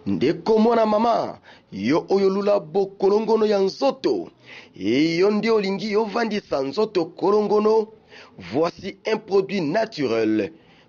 ndeko mwana mama yo oyo lula bokolongono ya nzoto eyo nde olingi ovandisa nzoto kolongono voici un produit naturel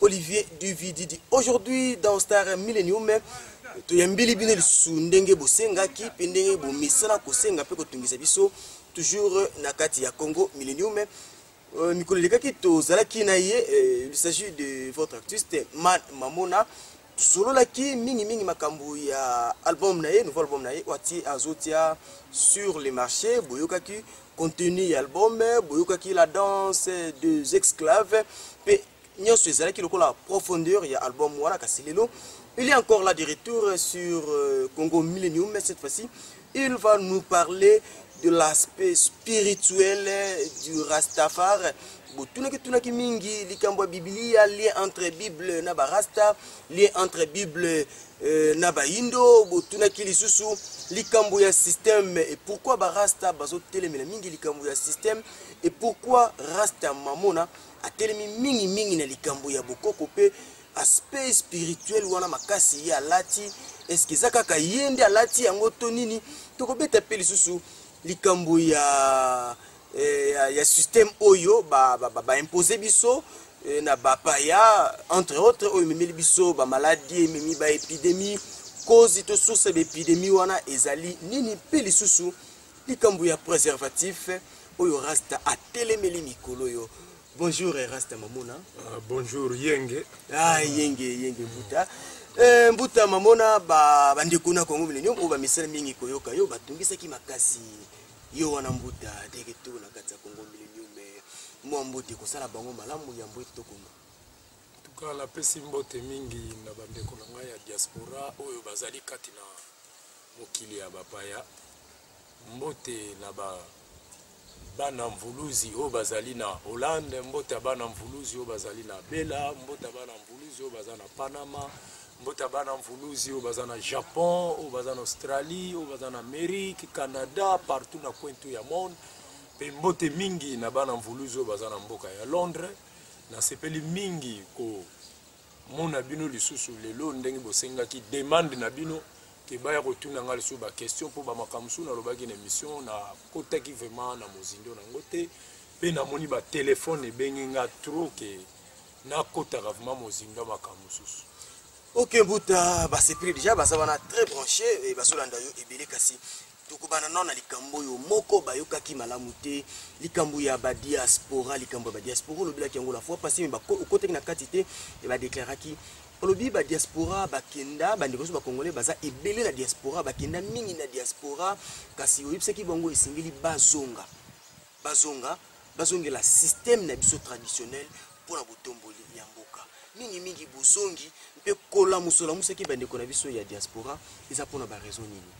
Olivier Duvididi. Aujourd'hui, dans Star Millennium, toyambeli bino lisusu ndenge bosengaki mpe ndenge bomesana kosenga mpe kotungisa biso toujours na kati ya Congo Millennium. Euh, mikolo elekaki tozalaki na ye euh, il s'agit de votre artiste Man Mamona tosololaki mingimingi makambo ya album na ye nouveau album na ye oyo atie azotia sur le marché boyokaki contenu ya album boyokaki la danse deux exclaves mpe nyonso ezalaki lokola profondeur ya album wana kasi lelo il est encore là de retour sur euh, congo millennium cette fois-ci Il va nous parler de l'aspect spirituel du Rastafar. botunaki tunaki mingi likambo ya biblia lien entre bible na barasta lien entre bible euh, na bayindo botunaki lisusu likambo ya système et pourquoi barasta bazotelemela mingi likambo ya système et pourquoi rasta mamona atelemi mingi mingi na likambo ya bokoko mpe aspect spirituel wana makasi ye alati eske eza kaka ye nde alati yango to nini tokobeta mpe lisusu likambo ya, eh, ya, ya système oyo baimpose ba, ba, ba biso eh, na bapaya entre autres oyo ememeli biso bamaladi ememi baepidemie kozi to source ya baepidemie wana ezali nini mpe lisusu likambo ya préservatif oyo rasta atelemeli mikolo oyo Bonjour Rasta Mamona. Uh, bonjour Yenge. Ah Yenge Yenge Mbuta. Eh, Mbuta Mamona ba bandeko na Congo millennium oyo bamisala mingi koyoka yo batungisaki makasi yo wana Mbuta de retour na kati ya Congo millennium eh, mwa mbote kosala bango malamu yambo ete tokoma. Tuka napesi mbote mingi na bandeko na ngai ya diaspora oyo bazali kati na mokili ya bapaya Mbote na ba bana mvuluzi oyo bazali na Hollande, mbote ya bana mvuluzi oyo bazali na Bela, mbote ya bana mvuluzi oyo baza na Panama, mbote ya bana mvuluzi oyo baza na Japon, oyo baza na Australie, oyo baza na Amerique, Canada, partout na coin tout ya monde. Pe mbote mingi na bana mvuluzi oyo baza na mboka ya Londres. Nasepeli mingi ko mona bino lisusu lelo ndenge bosengaki demande na bino ke baya kotuna ngai lisusu baquestion mpo bamakambo mosusu nalobaki na émission nakotaki vraiment na mozindo na yango te mpe namoni batelefone ebengi ngai trop ke nakotaka vraiment mozindo ya makambo mosusu ok mbuta basepeli deja baza wana très branché bazolanda yo ebele kasi tokobana nao na likambo oyo moko bayokaki malamu te likambo ya badiaspora likambo ya badiaspora olobelaki yango la fois passé me okotaki na kati te badeklaraki olobi badiaspora bakenda bandeko nyonso bacongolais baza ebele na diaspora bakenda mingi na diaspora kasi oyebisaki bango esengeli bazonga bazonga bazongela système na biso traditionnel mpo na botomboli ya mboka mingimingi bozongi mpe kolamuso olamusaki bandeko na biso ya diaspora eza mpo na baraison nini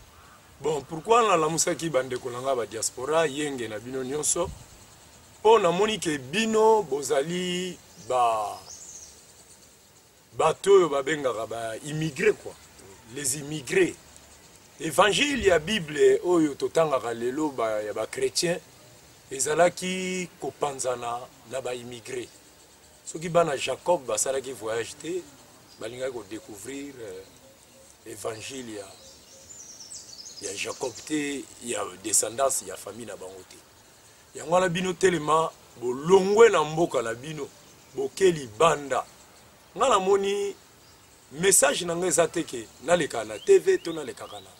bon pourkui nalamusaki bandeko na ngai badiaspora yenge na bino nyonso mpo namoni ke bino bozali ba bato oyo babengaka ba immigre quoi les immigres évangile ya bible oyo totangaka lelo ba, ya bachrétien ezalaki kopanzana na baimmigre soki bana jacob basalaki voyage te balingaki kodécouvrir euh, évangile ya, ya jacob te ya descendance ya famille na bango te yango wana bino telema bolongwe na mboka na bino boke libanda ngai namoni message na ngai eza te ke nalekaka na tv to nalekaka na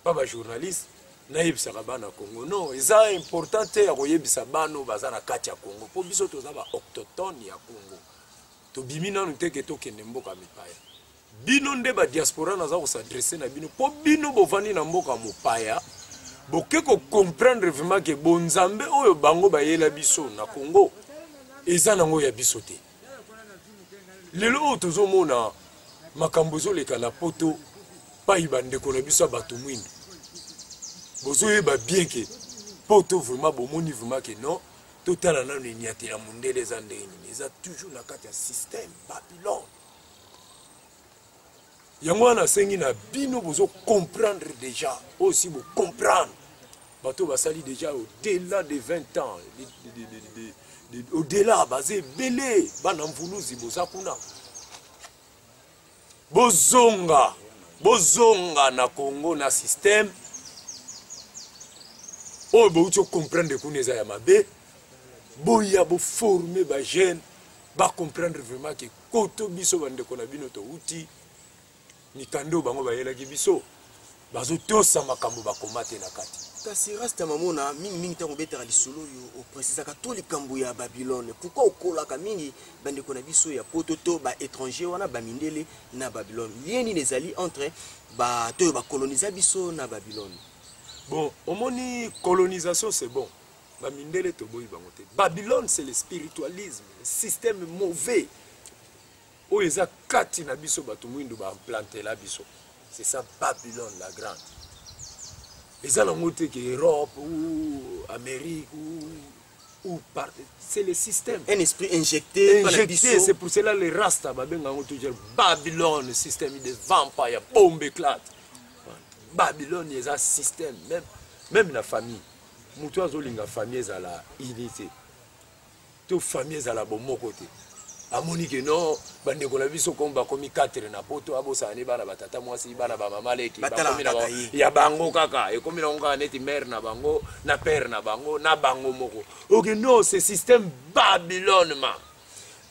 pa bajournaliste nayebisaka bana congo non eza important te ya koyebisa bana oyo baza na kati ya congo mpo biso toza baoctotone ya congo tobimi nanu te ke tokende mboka mipaya bino nde ba diaspora naza ko s'adresser na bino po bino bovandi na mboka mopaya boke ko comprendre vraiment ke bonzambe oyo bango bayela biso na Congo eza nango ya biso te lelo oyo tozomona makambo ezoleka na poto pai bandeko na biso ya bato mwindu bozoyeba bien ke poto vraiment bomoni vraiment ke non totala nano enyatela mondele eza ndenge nini eza toujours na kati ya système babylone yango wana nasengi na bino bozo comprendre déjà oyo si bocomprendre bato basali déjà au-delà de 20 ans de, de, de, de, de, odela baza ebele bana mvuluzi boza kuna bozonga bozonga na congo na systeme oyo bouti ocomprendre kuna eza ya mabe boya boforme bajeune bacomprendre vraiment ke Poto biso bandeko na bino towuti mikanda oyo bango bayelaki biso bazotosa makambo bakoma te na kati kasi rasta mamona mingimingi ntango obetaka lisolo oyo opresisaka to likambo ya babylone pourkui okolaka mingi bandeko na biso ya poto to baétranger wana bamindele na babylone lien nini ezali entre bato oyo bakolonisa biso na babylone bon omoni colonisation c'est bon Ba mindele toboyi bango te. Babylone c'est le spiritualisme, le système mauvais. Oyo eza kati na biso bato mwindu ba implantela biso. C'est ça Babylone la grande. Eza nango te ke Europe ou Amérique ou ou par c'est le système. Un esprit injecté, injecté c'est pour cela les rasta babenga yango toujours Babylone, système de vampire, bombe éclate. Babylone eza système même même la famille. moto oyo azolinga famille ezala unité to famille ezala bomoko te amoni ke no bandeko na biso comme bakomi 4 na poto abosana ne bana batata mwasi bana bamama leki ya bango kaka ekomi nango kaka neti mare na bango na pere na bango na bango moko oke no ce système babylone ma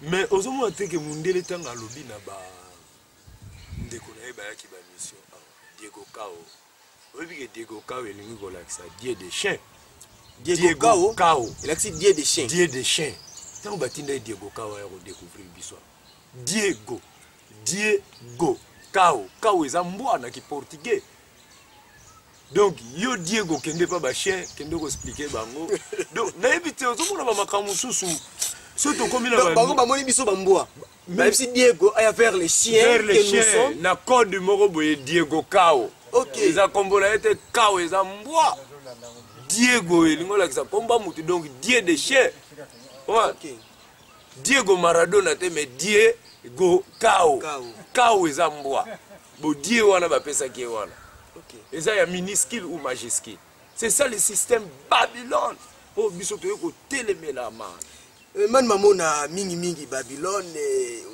mais ozomona te ke mundele ntango alobi na ba ndeko na ye bayaki ba mission awa ah, diego kao oyebi ke diego kao elingi kolakisa die de chien diego kao elakisi die de chien die de chien ntango batinda ye diego kao aya kodecouvrir biso diego diego kao kao eza mbwa na kiportugais donc yo diego kende pa bachien kende koexplike bango donc nayebi te ozomona bamakambo mosusu soki tokomi na bango bamoni biso bambwa bayebisi diego aya vers le chien vers le chien na code moko boye diego kao okay. eza kombo na ye te kao eza mbwa diego elingi olakisa komba motu donc die de chien okay. Diego Maradona te mais Diego Kao. Kao eza mbwa. Bo Die wana bapesaki ye wana. Eza ya minuscule ou majuscule. C'est ça le système Babylone. oyo oh, biso toyei kotelemela ma eh, mani mamona mingimingi babylone eh,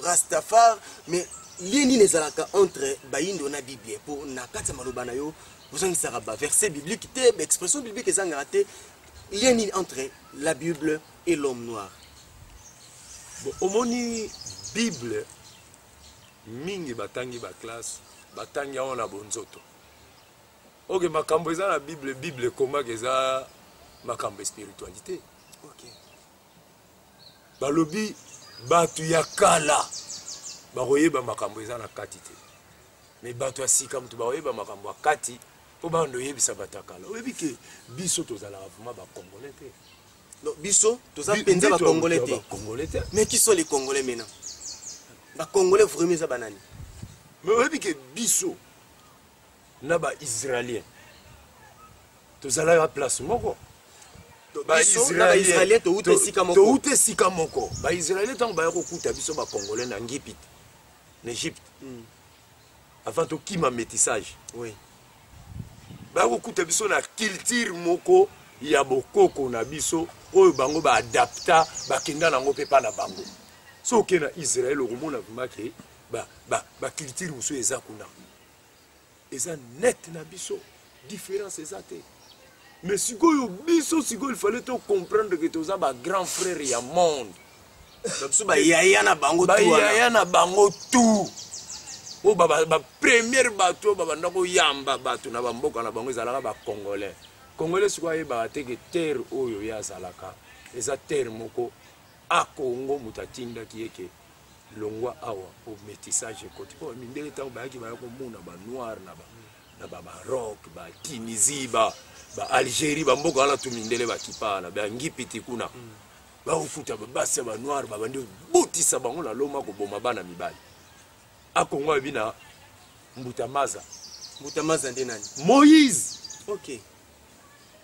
rastafar mais lie nini ezalaka entre bayindo na biblia mpo na kati ya maloba na yo ozangisaka baverset biblique te baexpression biblique ezangaka te lie nini entre la bible et l'homme noir bon, omoni bible mingi batangi baklasse batangi yango na bonzoto oke makambo eza na bible bible ekomaka eza makambo ya spiritualité okay. balobi bato ya kala bakoyeba makambo eza na kati te me bato ya sika moto bakoyeba makambo ya kati mpo bando oyebisa bato ya kala oyebi ke biso tozalaka vraimen bacongolais te Donc biso toza penza ba congolais te. Congolais te. Mais qui sont les congolais maintenant? Ba congolais vraiment za banani? Mais oyebi que biso na ba israéliens tozala ya place moko. baisraelien touta esika moko baisraelien ntango baya kokuta biso bacongolais na ngipite na egypte mm. avant tokima métissage oui. bakokuta biso na culture moko ya bokoko na biso oyo bango baadapta bakenda nango mpe mpa na bango so oke na israel okomona vrima ke baculture mosusu eza kuna eza net na biso Difference eza te. Mais sikoyo biso sikoyo il fallait to comprendre que toza ba grand frère ya monde. Biso ba yaya na bango tout. Ba yaya na bango tout. Oyo ba ba première bato ba banda ko yamba bato na ba mboka na bango ezalaka ba congolais. Congolais sikoyo ayebaka te que terre oyo ye azalaka eza terre moko a Congo moto atindaki ye ke longwa awa po métissage ekoti po mindele ntango bayaki baya komona banoire na ba na ba Maroc ba Tunisie ba ba Algérie ba mboka wana tu mindele ba kipana ba ngipiti kuna mm. ba okuta ba basi ya ba noir ba bandi botisa bango na loma ko boma bana mibali a Congo abina mbuta maza mbuta maza nde nani Moïse okay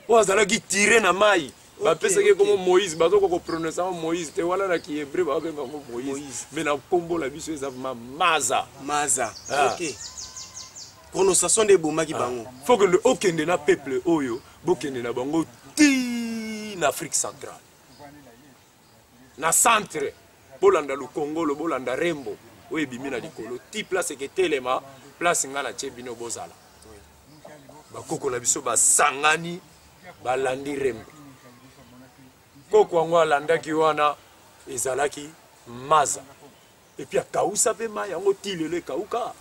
oyo azalaki tire na mai bapesaki nkombo moïse bazokoka koprononce yango moïse te wana na kihebre babenga yango moïse me na nkombo na biso eza ma maza maza ah. okay. prononciation nde ebomaki ah. bango fo kende okende na peuple oyo bokende na bango ti na afrique centrale na centre bolanda lukongolo bolanda rembo oyo ebimi na likolo ti place eketelema place ngai natie bino bozala bakoko na biso basangani balandi rembo koko yango alandaki wana ezalaki maza epuis akausa mpe mai yango ti lelo ekauka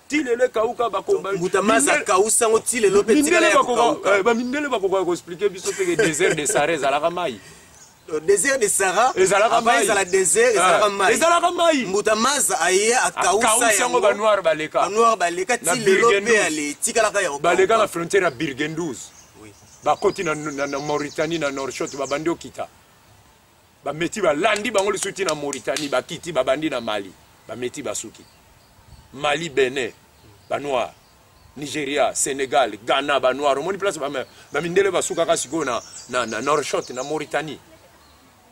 ti lelo ekauka bakombambutamazakausa yango ti lelo mpe bamindele bakokoka koexplike biso mpeke desert de sara ezalaka mai Euh, désert de Sarah ezalaka mai ezala désert ezalaka ah. mai ezalaka mai mbuta maza aye akausa yango ba noir baleka ba noir baleka ti lelo pe ale tikalaka yango baleka na frontière ya Birgendous bakoti na, na, na Mauritanie na Norshot babandi okita bameti balandi bango lisusu ti na mauritanie bakiti babandi na mali bameti basuki mali benin banoir nigeria senegal ghana banoir omoni place bamindele basukaka sikoyo na, na, na norshot na mauritanie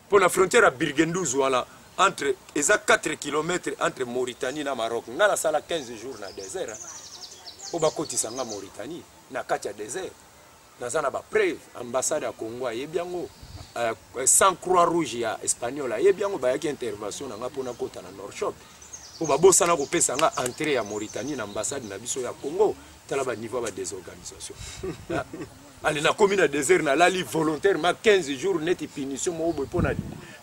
mpo na frontière ya birgenduz wana entre eza 4 km entre mauritanie na maroc ngai nasala 15 jours na désert mpo bakotisa ngai mauritanie na kati ya désert naza na ba preuve ambassade ya congo ayebi yango euh, sans croix rouge ya espagnol ayebi yango bayaki intervention na ngai mpo nakota na norshop mpo babosana kopesa ngai entrée ya mauritanie na ambassade na biso ya congo tala baniveau ya badesorganisation ah, ale nakomi na désert nalali volontairement 15 jours neti punition moko boye mpo na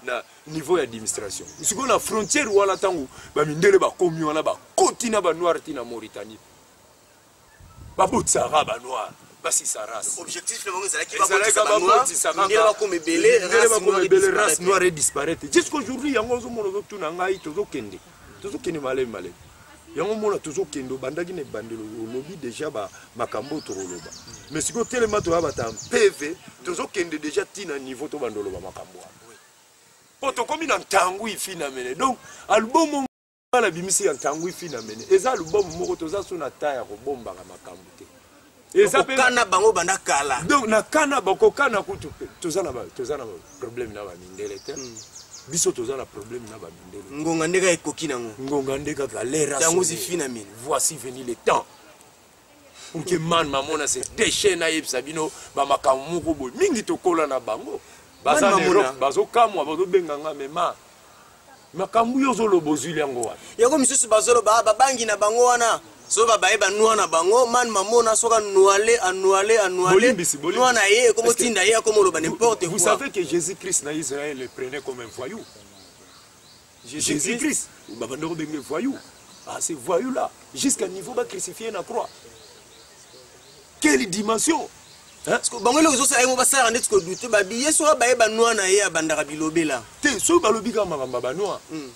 na niveau ya administration sikoyo na frontière wana ntango bamindele bakomi wana bakoti na banoir ti na mauritanie babotisa ra ba noir basisa race objectif na bango ezalaki babotisa ba noir ndele bakoma ebele ndele bakoma ebele race noire et disparaître jusqu'aujourd'hui yango ozomona ozotuna ngai tozokende tozokende malemi malemi yango mona tozokende obandaki na ebandelo olobi deja makambo oyo tokoloba mais sikoyo telema toya bata mpeve tozokende deja ntina niveau tobanda oloba makambo wana mpo tokomi na ntango ifinamene donc albumu nga nabimisi ya ntangui finamene eza album moko toza so na temps ya kobombaka makambo te eza mpe kana bango banda kala donc na kana bakokana kutu toza na toza na problème na bamindele te hmm. biso toza na problème na bamindele ngonga nde kaka ekoki nango ngonga nde kaka lera yango zifinamene voici venu le temps oke man mamona se deshe nayebisa bino bamakambo moko boye mingi tokola na bango baza na erope bazokamwa bazobenga nga mema makambo yo ozoloba ozwili yango wapi yango misusu bazoloba ah, babangi na bango wana so babaye banua na bango man mamona soki anuale anuale anualenua na ye ekomotinda ye akomoloba n'importe quoi vous savez que jésus christ na israël le prenait comme un voyou Jésus Christ babanda kobenge voyou ah c'est voyou là jusqu'à niveau ba crucifié na croix quelle dimension bango eloko ezosala yango basalaka ndeti kodute babiye soki baye banwa na ye abandaka bilobela te soki balobi kaka makambo ya banwa hmm.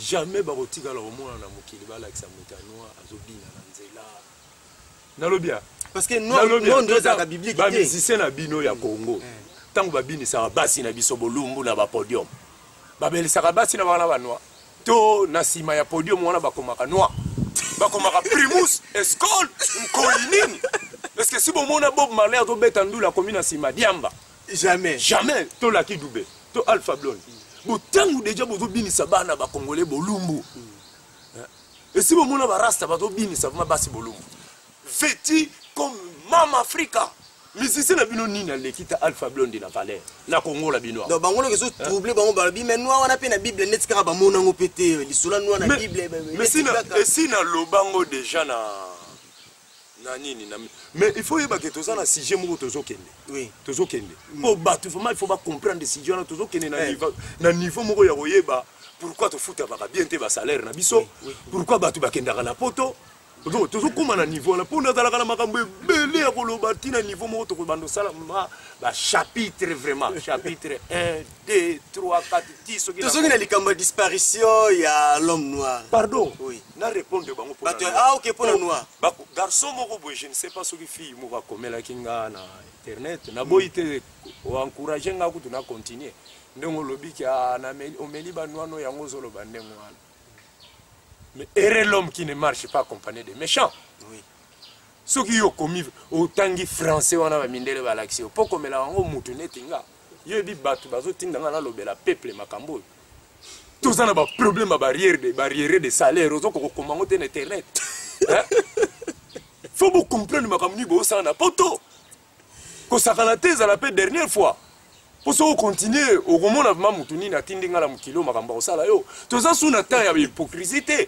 jamais bakotikala komona na mokili balakisa moto ya noir azobina na nzela nalobi ya parce que non non ndio za biblique ba musicien na bino ya Congo eh. tango ba bini sa basi na biso bolumbu na ba podium ba belisaka basi na bana ba noir to na sima ya podium wana bakomaka noir bakomaka primus escol nkoli nini parce que si bomona bob marley azobeta ndula akomi na sima diamba jamais jamais to laki dube to alpha blonde botango deja bozobinisa bana bakongole bolumbu mm. esi bomona barasta bazobinisa vrima basi bolumbu veti comme mama afrika musicien na bino nini aleki ta alpha blonde na valeur na kongola bino donc bango loki ezotrouble bango balobi mai noir wana mpe na bible neti kaka bamona yango mpe te lisolo noir na bible esi naloba yango déjà na na nini na mais il faut yeba ke toza na sujet moko tozokende oui. tozokende mpo mm. bato vraiment il faut bacomprendre sujet wana tozokende na, eh. niveau, na niveau moko ya koyeba pourquoi tofutabaka bien te basalaire na biso oui, oui. pourquoi bato bakendaka na poto tozokóma na niveau wana mpo nazalaka na makambo ebele ya koloba ntina niveau moko tokobanda osala bachapitre vraiment chapitre 1 2 3 4 ti soki tozoki na likambo ya disparition ya l'homme noir pardon oui na répondre bango pour bato ah ok pour le noir bako garçon moko boye je ne sais pas soki fille moko akomelaki nga na internet na boyi te encourager nga kutu na continuer ndenge olobi ki ah, na omeli ba noir no yango ozoloba ndenge wana mais erre l'homme qui ne marche pas accompagné des méchants oui soki yo okomi otangi français wana bamindele balakisi yo mpo okomela yango mutu neti nga yo ebi bato bazotinda ngai nalobela peuple makambo oyo toza na baproblème ya barrière de barrière de salaire ozoka kokoma yango te na internet fo bocomprendre makambo nini boosala na poto kosakana te ezala mpe dernière fois mpo soki okontinue okomona vrima motu nini atindi ngai na mokili oyo makambo akosala yo toza su na temps ya hypocrisie te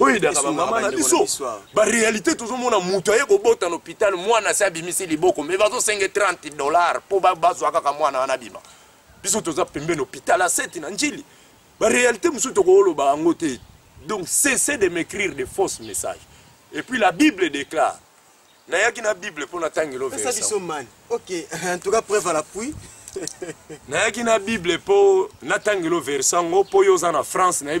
oyo edaka bamama na biso barealité tozomona moto aye kobota na hôpital mwana se abimisi liboko me bazosenga 30 dollar mpo bazwa kaka mwana wana abima biso toza pembeni hôpital aseti na njili barealité mosusu tokoloba yango te donc cessez de m'écrire de fausses messages et puis la bible déclare nayaki na bible mpo natangelo versa biso mani ok en tout cas preuve à l'appui nayaki na bible mpo natangelo verse yango mpo yo oza na france nayebi